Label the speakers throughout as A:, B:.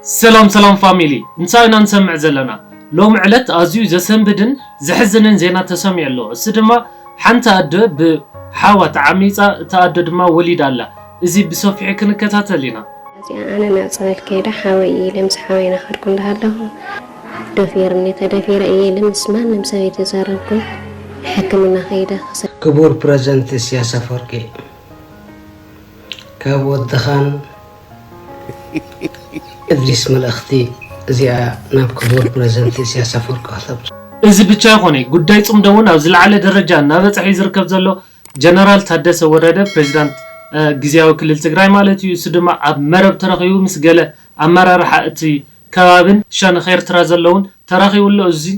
A: ሰላም ሰላም ፋሚሊ እንታይ ኢና ንሰምዕ ዘለና ሎሚ ዕለት ኣዝዩ ዘሰንብድን ዘሕዝንን ዜና ተሰሚዑ ኣሎ እሱ ድማ ሓንቲ ኣደ ብ ሓዋ ተዓሚጻ እታ ኣደ ድማ ወሊዳ ኣላ እዚ ብሰፊሑ ክንከታተል ኢና። እዚኣ ኣነ ናብ
B: ጸበል ከይደ ሓወይ ኢለ ምስ ሓወይ ናኸድኩ እንዳሃለኹ ደፊርኒ ተደፊረ እየ ኢለ ምስ ማንም ሰብ ኣይተዛረብኩን ሕክምና ከይደ ክሰ ክቡር ፕረዘንት
C: እስያስ ኣፎርቂ ካብ ወድኻን እብዚስ መልእኽቲ እዚኣ ናብ ክቡር ፕረዚደንት ኢሳያስ ኣፈወርቂ ከተብጽሑ። እዚ ብቻ
A: ኣይኮነይ ጉዳይ ፅምዶ እውን ኣብ ዝለዓለ ደረጃ እናበፀሐ እዩ ዝርከብ ዘሎ ጀነራል ታደሰ ወረደ ፕሬዚዳንት ግዚያዊ ክልል ትግራይ ማለት እዩ እሱ ድማ ኣብ መረብ ተረኪቡ ምስ ገለ ኣመራርሓ እቲ ከባብን ሸንኽ ኤርትራ ዘለውን ተራኪቡ ኣሎ እዙይ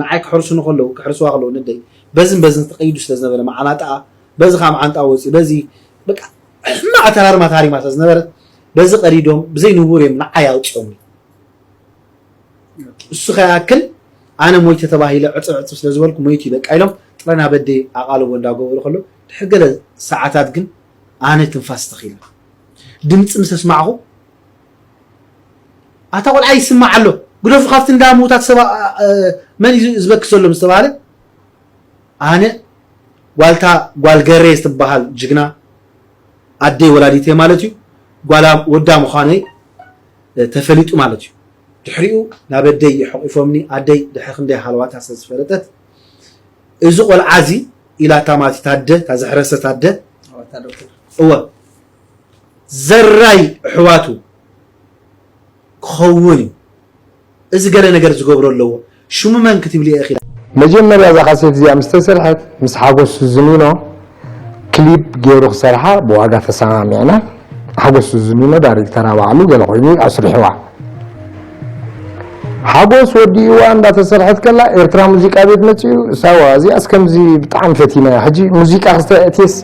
A: ንዓይ ክሕርሱኒ
D: ከለዉ፣ ክሕርስዋ ከለዉ ነደይ በዝን በዝን ተቀይዱ ስለ ዝነበረ መዓናጣኣ በዚ ከኣ መዓንጣኣ ወጺኡ በዚ በቃ ሕማቅ ኣተራርማ ታሪማ ስለ ዝነበረት በዚ ቀዲዶም ብዘይ ንቡር እዮም ንዓይ ኣውጺኦምኒ። እሱ ከይኣክል ኣነ ሞይተ ተባሂለ ዕጽብ ዕጽብ ስለ ዝበልኩ መይቱ እዩ በቃ ኢሎም ጥረ ናብ ኣደይ ኣቓልቦ እንዳ ገበሩ ከለዉ ድሕሪ ገለ ሰዓታት ግን ኣነ ትንፋስ ተኺለ ድምጺ ምስ ኣስማዕኩ ኣታ ቆልዓ ይስማዕ ኣሎ ግደፉ ካብቲ እንዳ ምውታት ሰባ መን እዩ ዝበክስ ዘሎ ምስ ተባሃለ ኣነ ጓልታ ጓል ገሬ ዝትበሃል ጅግና ኣደይ ወላዲት እየ ማለት እዩ ጓላ ወዳ ምዃነይ ተፈሊጡ ማለት እዩ ድሕሪኡ ናብ ኣደይ ይሐቂፎምኒ ኣደይ ድሕሪ ክንደይ ሃለዋታ ስለ ዝፈለጠት እዚ ቆልዓ እዚ ኢላ እታ ማለት ታደ እታ ዘሕረሰት ኣደ እወ ዘራይ እሕዋቱ ክኸውን እዩ እዚ ገለ ነገር ዝገብሮ ኣለዎ ሽሙ መን ክትብልየ ኢኺ። መጀመርያ እዛ
E: ካሴት እዚኣ ምስ ተሰርሐት ምስ ሓጎስ ሱዚኒኖ ክሊፕ ጌሩ ክሰርሓ ብዋጋ ተሰማሚዕና ሓጎስ ሱዚኒኖ ዳሪክተራ ባዕሉ ገለ ኮይኑ እዩ ኣስሪሕዋ ሓጎስ ወዲእዋ እንዳተሰርሐት ከላ ኤርትራ ሙዚቃ ቤት መጺኡ እሳዋ እዚኣስ ከምዚ ብጣዕሚ ፈቲናያ ሕጂ ሙዚቃ ክስተ የእትየስ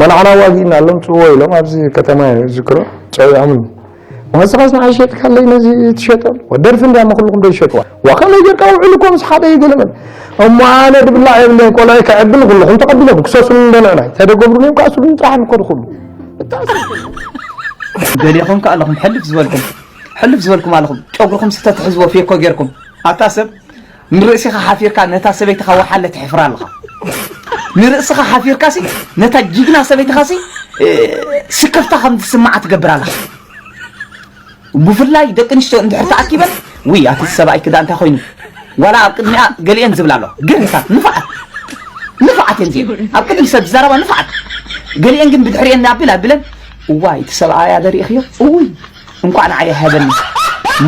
E: መናዕና ኣዋጊእና እሎም ጽእዎ ኢሎም ኣብዚ ከተማ እየ ዝዝክሮ ጸዊዖምኒ ዋዝኻስ ንዓይ ሸጥካለይ ነዚ ትሸጦ ደርፊ እንድያ እሞ ኩልኩም ዶ ይሸጥዋ ዋ ከመይ ጌርካ ውዕሉ እኮ ምስ ሓደ እዩ ገለ መለ እሞ ኣነ ድብላዕ የብለይን ቆልዐይ ከዕብል ኩልኹም ተቐቢሎም ክሰሱኒ እንዶ ንዕናይ ተደገብሩኒ እዮም ከዓ ስሉኒ ጥራሕ ንኮዱ ኩሉ
F: ገሊኹም ከዓ ኣለኹም ሕልፍ ዝበልኩም ሕልፍ ዝበልኩም ኣለኹም ጨጉርኩም ስተትሕዝዎ ፌኮ ጌርኩም ኣታ ሰብ ንርእሲኻ ሓፊርካ ነታ ሰበይትኻ ወሓለ ትሕፍራ ኣለኻ ንርእስኻ ሓፊርካ ሲ ነታ ጅግና ሰበይትኻ ሲ ስክፍታ ከም ዝስምዓ ትገብር ኣለኻ ብፍላይ ደቂ ኣንስትዮ እንድሕር ተኣኪበን ውይ ኣቲ ሰብኣይ ክዳ እንታይ ኮይኑ ዋላ ኣብ ቅድሚኣ ገሊአን ዝብላ ኣለዋ ግርህታት ንፋዓት ንፋዓት እየን ዚአን ኣብ ቅድሚ ሰብ ዝዛረባ ንፋዓት ገሊአን ግን ብድሕሪአን ኣቢል ኣቢለን እዋይ እቲ ሰብኣያ ደሪእኽዮ እውይ እንኳዕ ንዓይ ኣይሃበኒ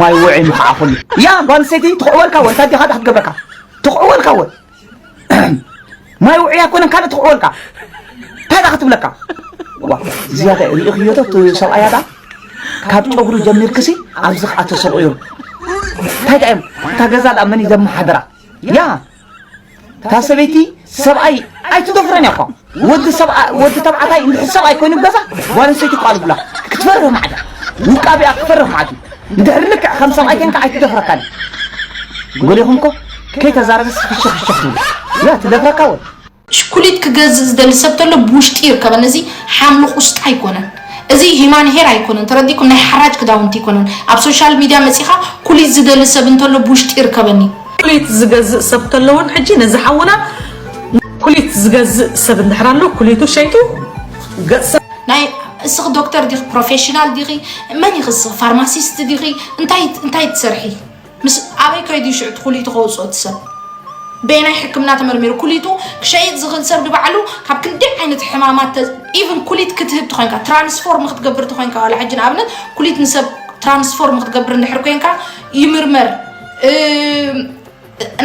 F: ማይ ውዕይ ምኽዓኹኒ ያ ጓል ኣንስተይቲ ትኽዕወልካ ወ እንታይ ዲኻ ድኣ ክትገብረካ ትኽዕወልካ ወ ማይ ውዕይ ኣይኮነን ካልእ ትኽዕወልካ እንታይ ድኣ ክትብለካ ዋ እዚኣ እንታይ ርኢኽዮ ዶ እቲ ሰብኣያ ድኣ ካብ ጨጉሪ ጀሚርክሲ ኣብዚ ክኣ ተሰቑዮም እንታይ ድኣ እዮም እታ ገዛ ድኣ መን እዩ ዘመሓድራ ያ እታ ሰበይቲ ሰብኣይ ኣይትደፍረን እያ እኳ ወዲ ሰብኣ ወዲ ተባዕታይ እንድሕር ሰብኣይ ኮይኑ ብ ገዛ ጓል ኣንስተይቲ ይቋልቡላ ክትፈርህ ማዕዳ ውቃቢኣ ክትፈርህ ማዕዱ እንድሕር ልክዕ ከም ሰብኣይ ኮንካ ኣይትደፍረካን ጎሊኹምኮ ከይተዛረበስ ፍሽኽ ፍሽኽ ትብል ያ ትደፍረካ ወድ ብሽኩሊት
G: ክገዝእ ዝደሊ ሰብ ተሎ ብውሽጢ ይርከበን እዚ ሓምሊ ቁስጣ ኣይኮነን እዚ ሂማን ሄር ኣይኮነን ተረዲኩም ናይ ሓራጅ ክዳውንቲ ኣይኮነን ኣብ ሶሻል ሚድያ መጺኻ ኩሊት ዝደሊ ሰብ እንተሎ ብውሽጢ ይርከበኒ ኩሊት ዝገዝእ
H: ሰብ ተሎ ውን ሕጂ ነዚ ሓውና ኩሊት ዝገዝእ ሰብ እንድሕር ኣሎ ኩሊቱ ሸይጡ ገጽ
G: ናይ እስኺ ዶክተር ዲኺ ፕሮፌሽናል ዲኺ መን ኢኺ እስኺ ፋርማሲስት ዲኺ እንታይ እንታይ ትሰርሒ ምስ ኣበይ ከይዱ እዩ ሽዑ እቲ ኩሊቱ ከውጽኦ እቲ ሰብ? በየናይ ሕክምና ተመርሚሩ? ኩሊቱ ክሸይጥ ዝኽእል ሰብ ንባዕሉ ካብ ክንደይ ዓይነት ሕማማት ተ ኢቭን ኩሊት ክትህብ ተኾይንካ ትራንስፎርም ክትገብር ተኾይንካ ዋላ ሕጂ ንኣብነት ኩሊት ንሰብ ትራንስፎርም ክትገብር እንድሕር ኮይንካ ይምርመር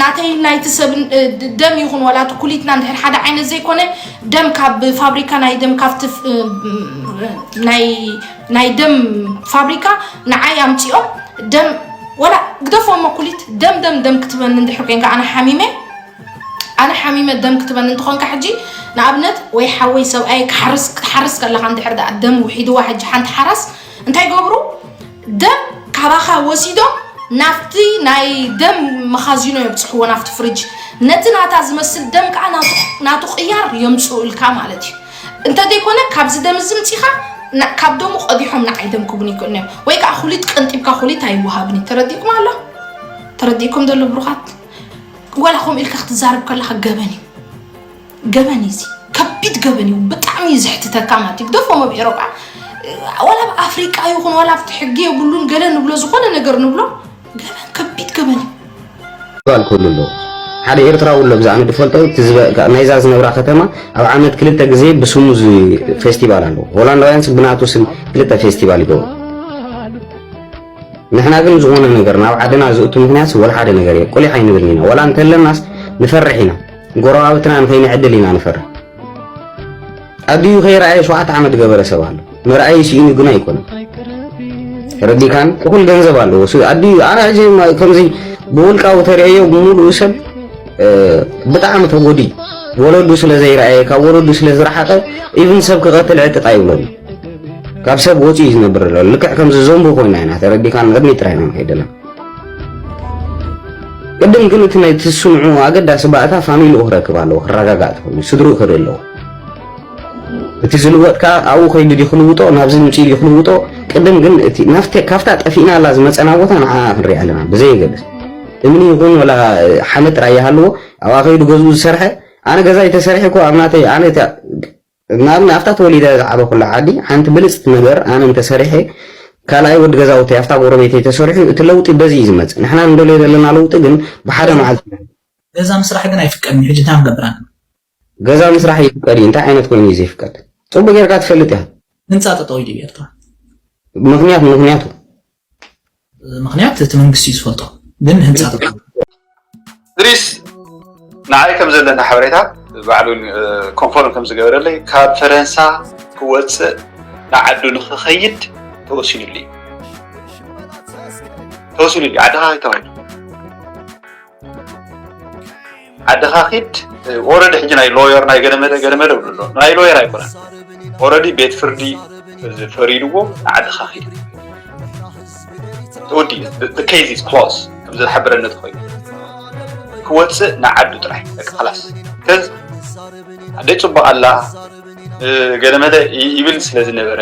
G: ናተይ ናይቲ ሰብ ደም ይኹን ዋላ እቲ ኩሊትና እንድሕር ሓደ ዓይነት ዘይኮነ ደም ካብ ፋብሪካ ናይ ደም ካብቲ ናይ ናይ ደም ፋብሪካ ንዓይ ኣምፂኦም ደም ወላ ግደፎ እሞ ኩሊት ደም ደም ደም ክትበኒ እንድሕር ኮንካ ኣነ ሓሚመ ኣነ ሓሚመ ደም ክትበኒ እንትኾንካ ሕጂ ንኣብነት ወይ ሓወይ ሰብኣይ ክሓርስ ከለካ እንድሕር ዳኣ ደም ውሒድዋ ሕጂ ሓንቲ ሓራስ እንታይ ገብሩ ደም ካባኻ ወሲዶም ናብቲ ናይ ደም መኻዚኖ የብፅሕዎ ናብቲ ፍርጅ ነቲ ናታ ዝመስል ደም ከዓ ናቱ ቅያር የምፅኡ ኢልካ ማለት እዩ እንተዘይኮነ ካብዚ ደም እዚ ምፂኻ ካብ ደሙ ቀዲሖም ንዓይ ደም ክቡን ይክእሉ እዮም ወይ ከዓ ኩሊት ቀንጢብካ ኩሊት ኣይወሃብን እዩ ተረዲእኩም ኣሎ ተረዲእኩም ዘሎ ብሩኻት ወላ ከምኡ ኢልካ ክትዛረብ ከለካ ገበን እዩ ገበን እዩ እዚ ከቢድ ገበን እዩ ብጣዕሚ እዩ ዘሕትተካ ማለት እዩ ግደፎም ኣብ ኤሮጳ ወላ ኣብ ኣፍሪቃ ይኹን ወላ ኣብቲ ሕጊ የብሉን ገለ ንብሎ ዝኾነ ነገር ንብሎ ከቢድ ገበን እዩ። ባል
I: ክህሉ ኣለዎ ሓደ ኤርትራዊ ኣሎ ብዛዕባ ንድፈልጦ ናይዛ ዝነብራ ከተማ ኣብ ዓመት ክልተ ግዜ ብስሙ ፌስቲቫል ኣለዎ ሆላንዳውያን ብናቱ ስም ክልተ ፌስቲቫል ይገብሩ ንሕና ግን ዝኾነ ነገር ናብ ዓድና ዝእቱ ምክንያት ወላ ሓደ ነገር እየ ቁሊሕ ኣይንብልን ኢና ወላ እንተለናስ ንፈርሕ ኢና ጎረባብትና ንኸይንዕድል ኢና ንፈርሕ ኣዲኡ ከይረኣየ ሸውዓተ ዓመት ገበረ ሰብ ኣሎ መርኣዩ ስኢኑ ግና ኣይኮነን ተረዲካን እኹል ገንዘብ ኣለዎ ኣዲኡ ኣነ ሕጂ ከምዚ ብውልቃዊ ተርእዮ ብምሉኡ ሰብ ብጣዕሚ ተጎዲ ወለዱ ስለ ዘይረኣየ ካብ ወለዱ ስለ ዝረሓቐ ኢቭን ሰብ ክቐትል ዕጥጣ ይብለሉ ካብ ሰብ ወፂኡ እዩ ዝነብር ዘሎ ልክዕ ከምዚ ዘንቡ ኮይና ኢና ተረዲካ ንቕድሚ ጥራይ ኢና ንኸይድ ኣለና ቅድም ግን እቲ ናይ ትስምዑ ኣገዳሲ ባእታ ፋሚሊኡ ክረክብ ኣለዎ ክረጋጋእ ትኽእሉ ስድርኡ ክርኢ ኣለዎ እቲ ዝልወጥ ከኣ ኣብኡ ከይዱ ድዩ ክልውጦ ናብዚ ምጺኡ ድዩ ክልውጦ ቅድም ግን እቲ ናፍቲ ካብታ ጠፊእናላ ዝመጸና ቦታ ንዓኣ ክንሪኣ ኣለና ብዘየገድስ እምኒ ይኹን ወላ ሓመድ ጥራይ ይሃልዎ ኣብኣ ከይዱ ገዝኡ ዝሰርሐ ኣነ ገዛይ ተሰሪሐ እኮ ኣብ ናተይ ኣነ ንኣብነት ኣብታ ተወሊደ ዝዓበኩላ ዓዲ ሓንቲ ብልፅቲ ነገር ኣነ እንተሰሪሐ ካልኣይ ወዲ ገዛውተይ ኣብታ ጎረቤተይ ተሰሪሑ እቲ ለውጢ በዚ እዩ ዝመፅእ ንሕና ንደልዮ ዘለና ለውጢ ግን ብሓደ መዓልቲ ገዛ ምስራሕ
J: ግን ኣይፍቀድን ሕጂ እንታይ ክንገብር ኣለና ገዛ
I: ምስራሕ ይፍቀድ እዩ እንታይ ዓይነት ኮይኑ እዩ ዘይፍቀድ ጽቡቅ ጌርካ ትፈልጥ ኢካ። ህንጻ ጠጠው ኢሉ
J: ብ ኤርትራ። ምኽንያት ምኽንያቱ። ምኽንያት እቲ መንግስቲ እዩ ዝፈልጦ ግን ህንጻ ጠጠው።
K: እድሪስ ንዓይ ከም ዘለኒ ሓበሬታ ባዕሉ ኮንፎርም ከም ዝገበረለይ ካብ ፈረንሳ ክወጽእ ንዓዱ ንኽኸይድ ተወሲኑሉ እዩ ተወሲኑሉ እዩ ዓድኻ ከይተባሂሉ። ዓድኻ ኪድ ኦረዲ ሕጂ ናይ ሎየር ናይ ገለመለ ገለመለ ብሉ ኣሎ ናይ ሎየር ኣይኮነን ኦረዲ ቤት ፍርዲ ፈሪድዎ ንዓድኻ ኪድ ተወዲ ከይዚ ክሎስ ከምዚ ዝሓበረኒ ተኮይኑ ክወፅእ ንዓዱ ጥራሕ ደቂ ክላስ ከዚ ኣደይ ፅቡቅ ኣላ ገለመለ ይብል ስለ ዝነበረ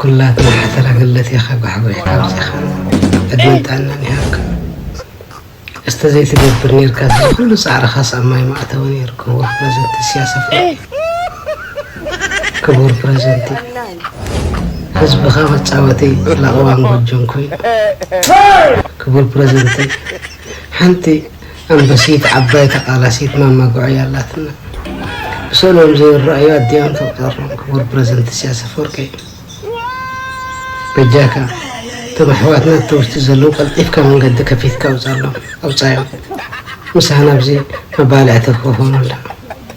C: ኩላትና ሓተላ ገለት ኢካ ጋሕባይ ካብዚካ ዕድመን ጥዕናን ይሃብካ እስተ ዘይትገብር ኔርካስ እዚ ኩሉ ጻዕርካስ ኣብ ማይ ምኣተወ ኔሩ ክቡር ፕረዘንቲ ኢስያስ ኣፍወርቂ ክቡር ፕረዘንቲ ህዝብካ መጻወቲ ለቅዋን ጎጆን ኮይኑ ክቡር ፕረዘንተይ ሓንቲ ኣንበሲት ዓባይ ተቃላሲት ማማ ጉዕያ ኣላትና ብሰንኦም ዘይረኣዩ ኣዲኦም ተቁጸሮም ክቡር ፕረዘንት ኢሳያስ ኣፈወርቂ በጃካ እቶም ኣሕዋትና ኣብቲ ውሽጢ ዘለዉ ቀልጢፍካ መንገዲ ከፊትካ ኣውጻሎም ኣውጻዮም ምሳና ኣብዚ መባልዕቲ ክኾኑ ኣላ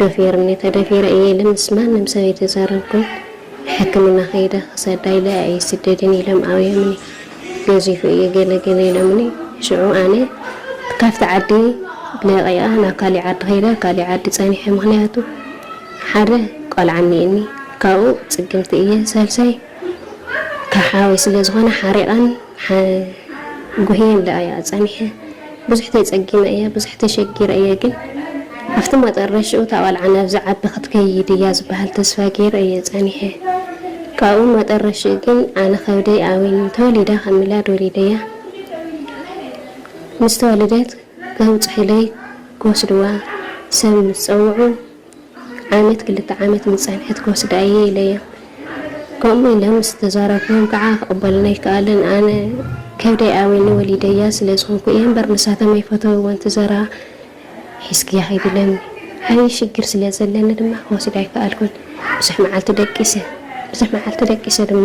B: ደፊሩኒ ተደፊረ እየ ኢለ ምስ ማንም ሰብ ኣይተዛረብኩን ንሕክምና ከይደ ክሰዳ ኢለ ኣይስደድን ኢሎም ኣብዮምኒ ገዚፉ እየ ገለ ገለ ኢሎምኒ ሽዑ ኣነ ካብቲ ዓዲ ለቂኣ ናብ ካሊእ ዓዲ ከይደ ኣብ ካሊእ ዓዲ ፀኒሐ ምክንያቱ ሓደ ቆልዓ እኒኤኒ ካብኡ ፅግምቲ እየ ሳልሳይ ካብ ሓወይ ስለ ዝኮነ ሓሪቀን ሓ ጉህየን ደኣ እያ ጸኒሐ ብዙሕ ተጸጊመ እየ ብዙሕ ተሸጊረ እየ ግን ኣብቲ መጠረሽኡ እታ ቆልዓ ናብዚ ዓቢ ክትከይድ እያ ዝበሃል ተስፋ ጌረ እየ ጸኒሐ ካብኡ መጠረሽኡ ግን ኣነ ከብደይ ኣውይኑ ተወሊዳ ከም ሚላድ ወሊደያ ምስ ተወለደት ከብጽሑለይ ክወስድዋ ሰብ ምስ ጸውዑ ዓመት ክልተ ዓመት ምስ ጸንሐት ክወስዳ እየ ኢለዮም። ከምኡ ኢለ ምስ ተዛረብኩዎም ከኣ ክቕበሉኒ ኣይከኣሉን። ኣነ ከብደይ ኣውዩኒ ወሊደያ ስለ ዝኾንኩ እየ እምበር ንሳቶም ኣይፈተውዎን እቲ ዘረባ ሒዝክያ ከይዲ ኢሎምኒ። ዓብዪ ሽግር ስለ ዘለኒ ድማ ክወስዳ ኣይከኣልኩን። ብዙሕ መዓልቲ ደቂሰ። ብዙሕ መዓልቲ ደቂሰ ድማ።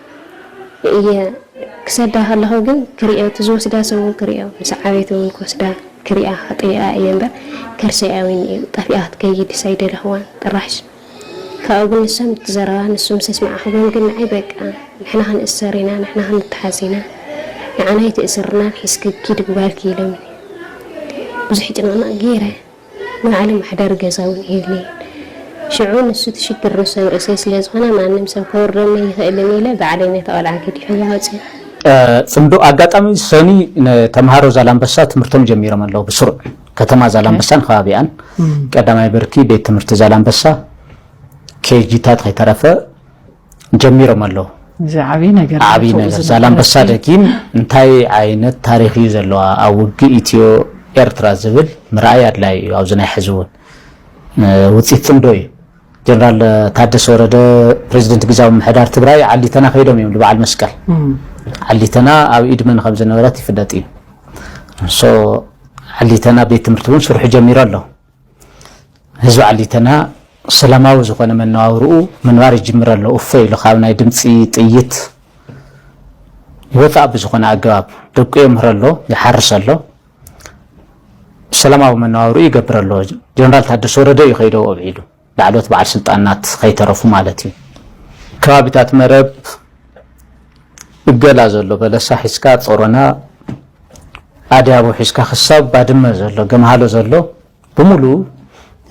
B: እየ ክሰዳ ከለኩ ግን ክሪኦ እቲ ዝወስዳ ሰብ ውን ክሪኦ ምስ ዓበይቲ ውን ክወስዳ ክሪኣ ክጥይቃ እየ እምበር ከርሰይ ኣውይኒ እዩ ጠፊኣ ክትከይድስ ኣይደለክዋን ጥራሽ ካብኡ ግን ንሶም እቲ ዘረባ ንሱ ምስ ኣስማዕክዎም ግን ንዓይ በቃ ንሕና ክንእሰር ኢና ንሕና ክንተሓዝ ኢና ንዓና ኣይትእስርናን ሒዝኪ ኪዲ ብጓልኪ ኢሎምኒ ብዙሕ ጭንቅንቅ ገይረ ንባዕሊ ምሕዳር ገዛ እውን የብለይን። ሽዑ ንሱ እቲ ሽግር ንሶም ርእሰይ ስለ ዝኾነ ማንም ሰብ ከውርደኒ ኣይኽእልን ኢለ ባዕለይ ነታ ቆልዓ ገዲፈያ ወጺኣ። ጽምዶ
F: ኣጋጣሚ ሰኒ ንተምሃሮ ዛላምበሳ ትምህርቶም ጀሚሮም ኣለዉ። ብስሩዕ ከተማ ዛላምበሳን ከባቢኣን ቀዳማይ ብርኪ ቤት ትምህርቲ ዛላምበሳ ኬጂታት ከይተረፈ ጀሚሮም ኣለዉ። እዚ ዓብይ ነገር
H: ዓብይ ነገር ዛላምበሳ
F: ደጊም እንታይ ዓይነት ታሪክ እዩ ዘለዋ ኣብ ውግእ ኢትዮ ኤርትራ ዝብል ምርኣይ ኣድላይ እዩ። ኣብዚ ናይ ሕዚ እውን ውፅኢት ፅምዶ እዩ። ጀነራል ታደሰ ወረደ ፕሬዚደንት ግዛዊ ምሕዳር ትግራይ ዓሊተና ከይዶም እዮም ንበዓል መስቀል ዓሊተና ኣብ ኢድ መን ከም ዝነበረት ይፍለጥ እዩ። ሶ ዓሊተና ቤት ትምህርቲ እውን ስርሑ ጀሚሩ ኣሎ። ህዝቢ ዓሊተና ሰላማዊ ዝኾነ መነባብርኡ ምንባር ይጅምር ኣሎ እፎይ ኢሉ ካብ ናይ ድምፂ ጥይት ወፃእ ብዝኾነ ኣገባብ ደቁ የምህረ ኣሎ ይሓርስ ኣሎ ሰላማዊ መነባብርኡ ይገብር ኣሎ ጀነራል ታደሰ ወረደ እዩ ከይደው ኣብዒሉ ላዕለዎት በዓል ስልጣናት ከይተረፉ ማለት እዩ። ከባቢታት መረብ እገላ ዘሎ በለሳ ሒዝካ ጾሮና ኣድያቦ ሒዝካ ክሳብ ባድመ ዘሎ ገምሃሎ ዘሎ ብምሉ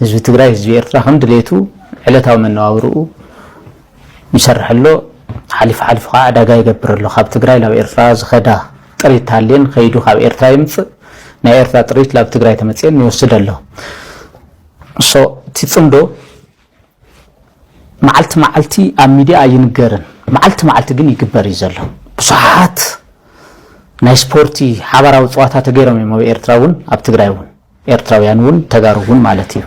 F: ህዝቢ ትግራይ ህዝቢ ኤርትራ ከም ድሌቱ ዕለታዊ መነባብርኡ ይሰርሕ ኣሎ። ሓሊፉ ሓሊፉ ከዓ ዕዳጋ ይገብር ኣሎ። ካብ ትግራይ ናብ ኤርትራ ዝኸዳ ጥሪት ታሌን ከይዱ ካብ ኤርትራ ይምፅእ ናይ ኤርትራ ጥሪት ላብ ትግራይ ተመፅኤን ይወስድ ኣሎ። So እቲ ጽምዶ መዓልቲ መዓልቲ ኣብ ሚድያ ኣይንገርን መዓልቲ መዓልቲ ግን ይግበር እዩ ዘሎ ብዙሓት ናይ ስፖርቲ ሓባራዊ ጽዋታ ተገይሮም እዮም ኣብ ኤርትራ እውን ኣብ ትግራይ እውን ኤርትራውያን እውን ተጋሩ እውን ማለት እዩ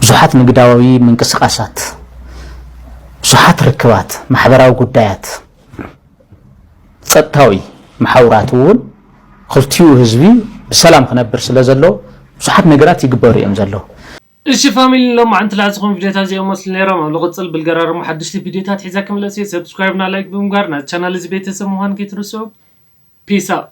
F: ብዙሓት ንግዳዊ ምንቅስቃሳት ብዙሓት ርክባት ማሕበራዊ ጉዳያት ጸጥታዊ መሓውራት እውን ኽልቲኡ ህዝቢ ብሰላም ክነብር ስለ ዘለዎ ብዙሓት ነገራት ይግበሩ እዮም ዘለዉ። እሺ ፋሚሊ
A: ንሎማዓንቲ ልሓዝኹም ቪድዮታት እዚኦም መስሉ ነይሮም ኣብ ልቅፅል ብልገራርሙ ሓደሽቲ ቪድዮታት ሒዘ ክምለስ እየ ሰብስክራይብ እና ላይክ ብምግባር ናዚ ቻናል እዚ ቤተሰብ ምዃን ከይትርስዑ ፒስ ኣውት።